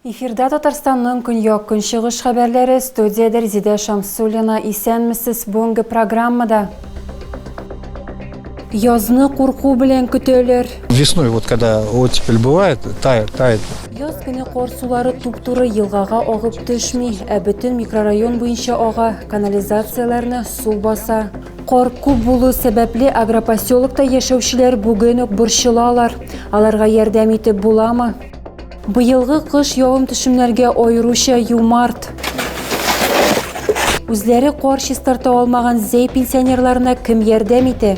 Эфирда Татарстанның көньяк көнчыгыш хәбәрләре студиядә Резидә Шамсуллина. Исәнмесез бүгенге программада. Язны курку белән көтәләр. Весной, вот когда оттепель бывает, тает, тает. Яз көне кар сулары туп-туры елгага агып төшми, ә бөтен микрорайон буенча ага, канализацияләрне су баса. Кар күп булу сәбәпле агропоселокта яшәүчеләр бүген үк борчылалар. Аларга ярдәм итеп буламы? Быелгы кыш явым-төшемнәргә аеруча юмарт. Үзләре кар чистарта алмаган зәй пенсионерларына кем ярдәм итә?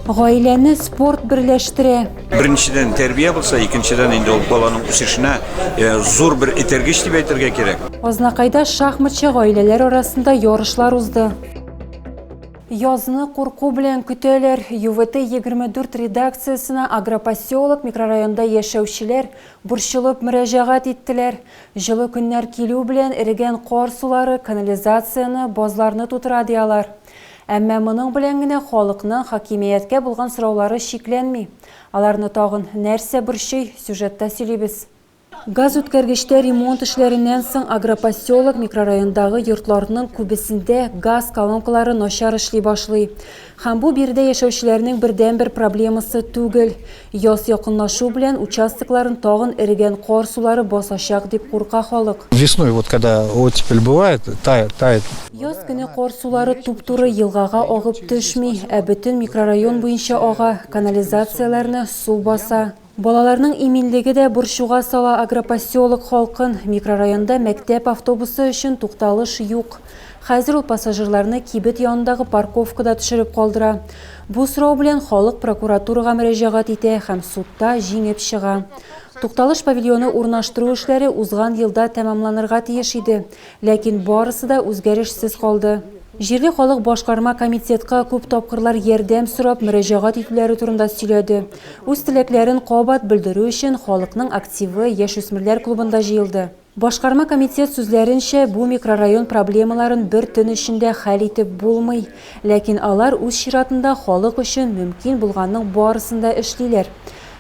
Гаиләне спорт берләштерә. Беренчедән тәрбия булса, икенчедән инде ул баланың үсешенә э, зур бер этәргеч дип әйтергә кирәк. Азнакайда шахматчы гаиләләр арасында ярышлар узды. Язны курку белән көтәләр. ЮВТ-24 редакциясенә Агропоселок микрорайонында яшәүчеләр борчылып мөрәҗәгать иттеләр. Җылы көннәр килү белән эрегән кар сулары канализацияне, базларны тутыра, ди алар. Әмма моның белән генә халыкның хакимияткә булган сораулары чикләнми. Аларны тагын нәрсә борчый, сюжетта сөйлибез. Газ үткәргечтә ремонт эшләреннән соң Агропоселок микрорайондагы йортларның күбесендә газ колонкалары начар эшли башлый. Һәм бу биредә яшәүчеләрнең бердәнбер проблемасы түгел. Яз якынлашу белән участокларын тагын эрегән кар сулары басачак дип курка халык. Весной вот когда оттепель бывает, тает, тает. Яз көне кар сулары туп-туры елгага агып төшми, ә бөтен микрорайон буенча ага, канализацияләрне су баса. Балаларның иминлеге дә борчуга сала Агропоселок халкын. Микрорайонда мәктәп автобусы өчен тукталыш юк. Хәзер ул пассажирларны кибет янындагы парковкада төшереп калдыра. Бу сорау белән халык прокуратурага мөрәҗәгать итә һәм судта җиңеп чыга. Тукталыш павильоны урнаштыру эшләре узган елда тәмамланырга тиеш иде. Ләкин барысы да үзгәрешсез калды. Җирле халык башкарма комитетка күп тапкырлар ярдәм сорап мөрәҗәгать итүләре турында сөйләде. Үз теләкләрен кабат белдерү өчен халыкның активы яшүсмерләр клубында җыелды. Башкарма комитет сүзләренчә, бу микрорайон проблемаларын бер төн эчендә хәл итеп булмый. Ләкин алар үз чиратында халык өчен мөмкин булганның барысын да эшлиләр.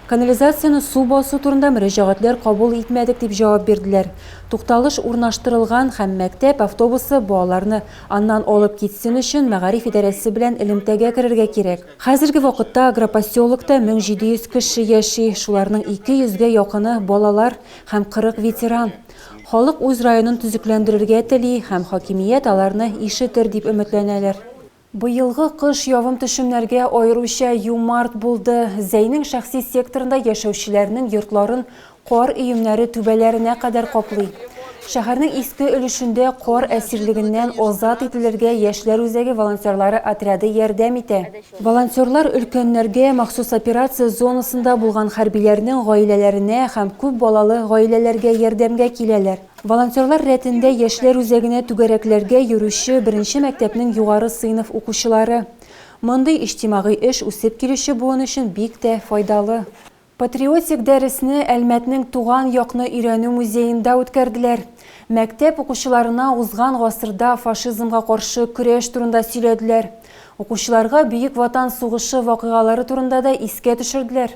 Канализацияне су басу турында мөрәҗәгатьләр кабул итмәдек, дип җавап бирделәр. Тукталыш урнаштырылган һәм мәктәп автобусы балаларны аннан алып китсен өчен мәгариф идарәсе белән элемтәгә керергә кирәк. Хәзерге вакытта агропоселокта 1700 кеше яши, шуларның 200 гә якыны, балалар һәм 40 ветеран. Халык үз районын төзекләндерергә тели һәм хакимият аларны ишетер дип өметләнәләр. Быелгы кыш явым-төшемнәргә аеруча юмарт булды. Зәйнең шәхси секторында яшәүчеләрнең йортларын кар өемнәре түбәләренә кадәр каплый. Шәһәрнең иске өлешендә кар әсирлегеннән азат ителергә яшьләр үзәге волонтерлары отряды ярдәм итә. Волонтерлар өлкәннәргә, махсус операция зонасында булган хәрбиләрнең гаиләләренә һәм күп балалы гаиләләргә ярдәмгә киләләр. Волонтерлар рәтендә яшьләр үзәгенә түгәрәкләргә йөрүче беренче мәктәпнең югары сыйныф укучылары. Мондый иҗтимагый эш үсеп килүче буын өчен бик тә файдалы. Патриотик дәресне Әлмәтнең Туган якны өйрәнү музеенда үткәрделәр. Мәктәп укучыларына узган гасырда фашизмга каршы көрәш турында сөйләделәр. Укучыларга Бөек Ватан сугышы вакыйгалары турында да искә төшерделәр.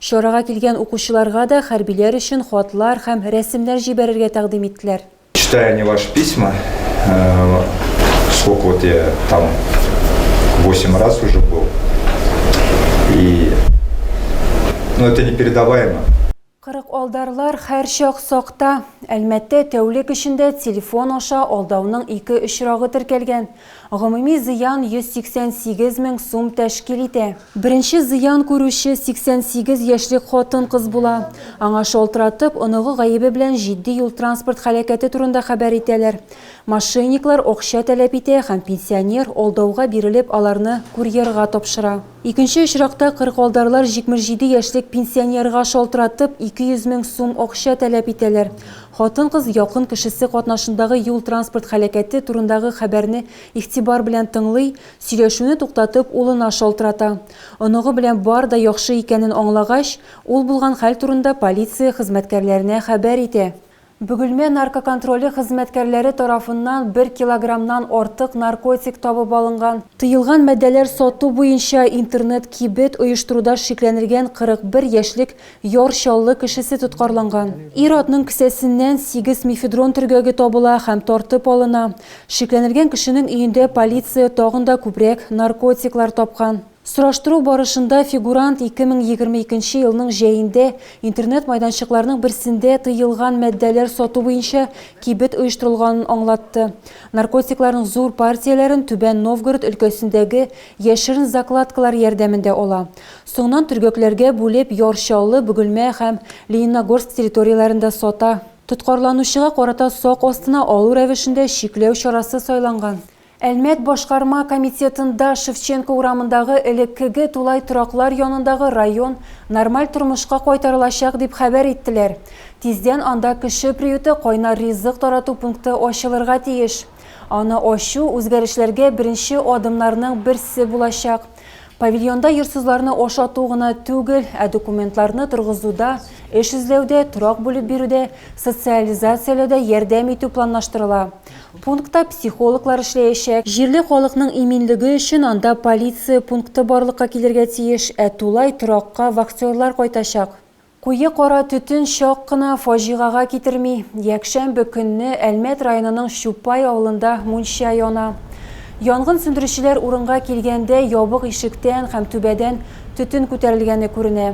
Чарага килгән укучыларга да хәрбиләр өчен хатлар һәм рәсемнәр җибәрергә тәкъдим иттеләр. Читая они ваши письма, сколько вот я там восемь раз уже был, и ну это непередаваемо. Кырык алдарлар һәрчак сакта. Әлмәттә тәүлек эчендә телефон аша алдауның ике очрагы теркәлгән. Гомуми зыян 188 мең сум тәшкил итә. Беренче зыян күрүче 88 яшьлек хатын-кыз була. Аңа шалтыратып, оныгы гаебе белән җитди юл-транспорт һәлакәте турында хәбәр итәләр. Мошенниклар акча таләп итә һәм пенсионер, алдауга бирелеп, аларны курьерга тапшыра. Икенче очракта кыркалдарлар 77 яшьлек пенсионерга шалтыратып, 200 мең сум акча таләп итәләр. Хатын-кыз якын кешесе катнашындагы юл-транспорт һәлакәте турындагы хәбәрне игътибар белән тыңлый, сөйләшүне туктатып, улына шалтырата. Оныгы белән бар да яхшы икәнен аңлагач, ул булган хәл турында полиция хезмәткәрләренә хәбәр итә. Бөгелмә наркоконтроле хезмәткәрләре тарафыннан бер килограммнан артык наркотик табып алынган. Тыелган матдәләр сату буенча интернет-кибет оештыруда шикләнелгән 41 яшьлек Яр Чаллы кешесе тоткарланган. Ир-атның кесәсеннән сигез мефедрон төргәге табыла һәм тартып алына. Шикләнелгән кешенең өендә полиция тагын да күбрәк наркотиклар тапкан. Сораштыру барышында фигурант 2022 нче елның җәендә интернет-майданчыкларның берсендә тыелган матдәләр сату буенча кибет оештырылганын аңлатты. Наркотикларның зур партияләрен Түбән Новгород өлкәсендәге яшерен закладкалар ярдәмендә ала. Соңнан төргәкләргә бүлеп, Яр Чаллы, Бөгелмә һәм Лениногорск территорияләрендә сата. Тоткарланучыга карата сак астына алу рәвешендә чикләү чарасы сайланган. Әлмәт башкарма комитетында Шевченко урамындагы элеккеге тулай тораклар янындагы район нормаль тормышка кайтарылачак дип хәбәр иттеләр. Тиздән анда кеше приюты, кайнар ризык тарату пункты ачылырга тиеш. Аны ачу, үзгәрешләргә беренче адымнарның берсе булачак. Павильонда йортсызларны ашату гына түгел, ә документларны торгызуда, эш эзләүдә, торак бүлеп бирүдә, социализацияләүдә ярдәм итү планлаштырыла. Пунктта психологлар эшләячәк. Җирле халыкның иминлеге өчен анда полиция пункты барлыкка килергә тиеш, ә тулай торакка вахтерлар кайтачак. Куе кара төтен чак кына фаҗигага китерми. Якшәмбе көнне Әлмәт районының Чупай авылында мунча яна. Янгын сүндерүчеләр урынга килгәндә ябык ишектән һәм түбәдән төтен күтәрелгәне күренә.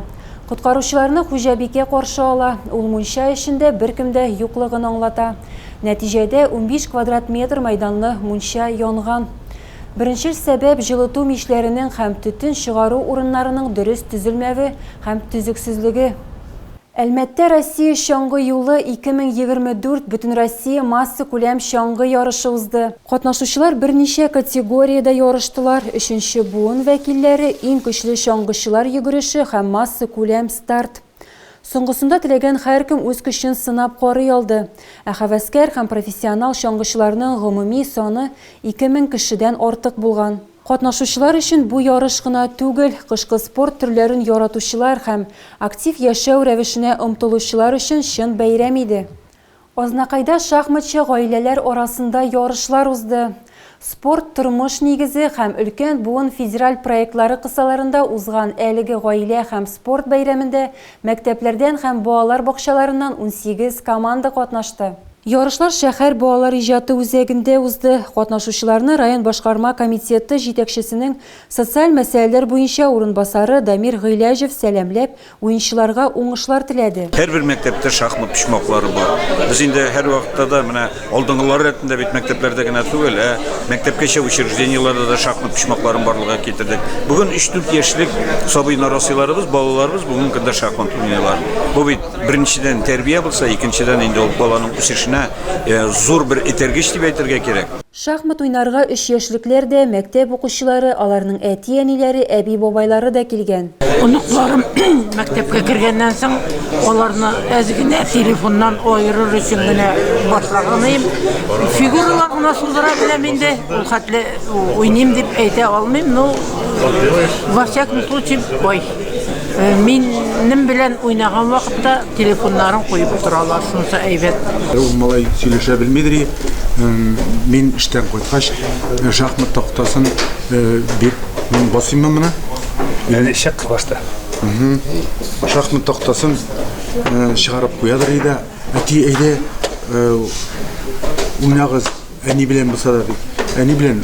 Коткаручыларны хуҗабикә каршы ала, ул мунча эчендә беркем дә юклыгын аңлата. Нәтиҗәдә, унбиш квадрат метр мәйданлы мунча янган. Беренчел сәбәп, җылыту мичләренең һәм төтен чыгару урыннарының дөрес төзелмәве һәм төзексезлеге. Әлмәттә Россия чаңгы юлы 2024 Бөтенроссия массакүләм чаңгы ярышы узды. Катнашучылар берничә категориядә ярыштылар, өченче буын вәкилләре, иң көчле чаңгычылар йөгереше һәм массакүләм старт. Соңгысында теләгән һәркем үз көчен сынап карый алды. Ә һәвәскәр һәм профессионал чаңгычыларның гомуми саны 2000 кешедән артык булган. Катнашучылар өчен бу ярыш кына түгел, кышкы спорт төрләрен яратучылар һәм актив яшәү рәвешенә омтылучылар өчен чын бәйрәм иде. Азнакайда шахматчы гаиләләр арасында ярышлар узды. Спорт, тормыш нигезе һәм Өлкән буын федераль проектлары кысаларында узган әлеге гаилә һәм спорт бәйрәмендә мәктәпләрдән һәм балалар бакчаларыннан унсигез команда катнашты. Ярышлар шәһәр балалар иҗаты үзәгендә узды. Катнашучыларны район башкарма комитеты җитәкчесенең социаль мәсьәләләр буенча урынбасары Дамир Гыйләҗев сәламләп, Уенчыларга уңышлар теләде. Һәрбер мәктәптә шахмат почмаклары бар. Без инде һәрвакытта да менә алдынгылар рәтендә бит мәктәпләрдә генә түгел, ә мәктәпкәчә учреждениеләрдә дә шахмат почмакларын барлыкка китердек. Бүген өч-дүрт яшьлек сабый нарасыйларыбыз, балаларыбыз бүгенге көндә шахмат уйныйлар. Бу бит беренчедән тәрбия булса, икенчедән инде ул баланың үсешенә зур бер этәргеч дип әйтергә кирәк. Шахмат уйнарга өч яшьлекләр дә, мәктәп укучылары, аларның әти-әниләре, әби-бабайлары да килгән. Оныкларым мәктәпкә кергәннән соң, аларны әз генә телефоннан аерыр өчен генә башлаганым. Фигуралар гына суздыра беләм инде, ул хәтле уйныйм дип әйтә алмыйм, ну, во всяком случае, бай. Минем белән уйнаган вакытта телефоннарын куеп утыралар, шунысы әйбәт. Ул малай сөйләшә белмидер и мин эштән кайткач шахмат тактасын бир, мин басыйммы моны? Әле чык башта. Шахмат тактасын чыгарып куядыр иде. Әти, әйдә, уйнагыз. Әни белән булса да бит. Әни белән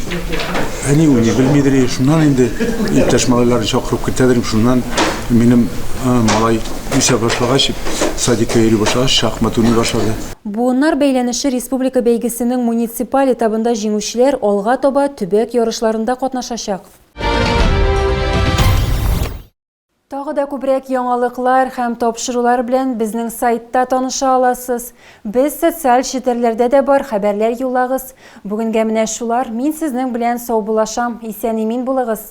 әни уйный белмидер, и шуннан инде иптәш малайларны чакырып кертәдер, шуннан минем а, малай үсә башлагач, садикка йөри башлагач, шахмат уйный башлады. Буыннар бәйләнеше республика бәйгесенең муниципаль этабында җиңүчеләр алга таба төбәк ярышларында катнашачак. Тагы да күбрәк яңалыклар һәм тапшырулар белән безнең сайтта таныша аласыз. Без социаль челтәрләрдә дә бар, хәбәрләр юллагыз. Бүгенгә менә шулар, мин сезнең белән саубуллашам, исән-имин булыгыз!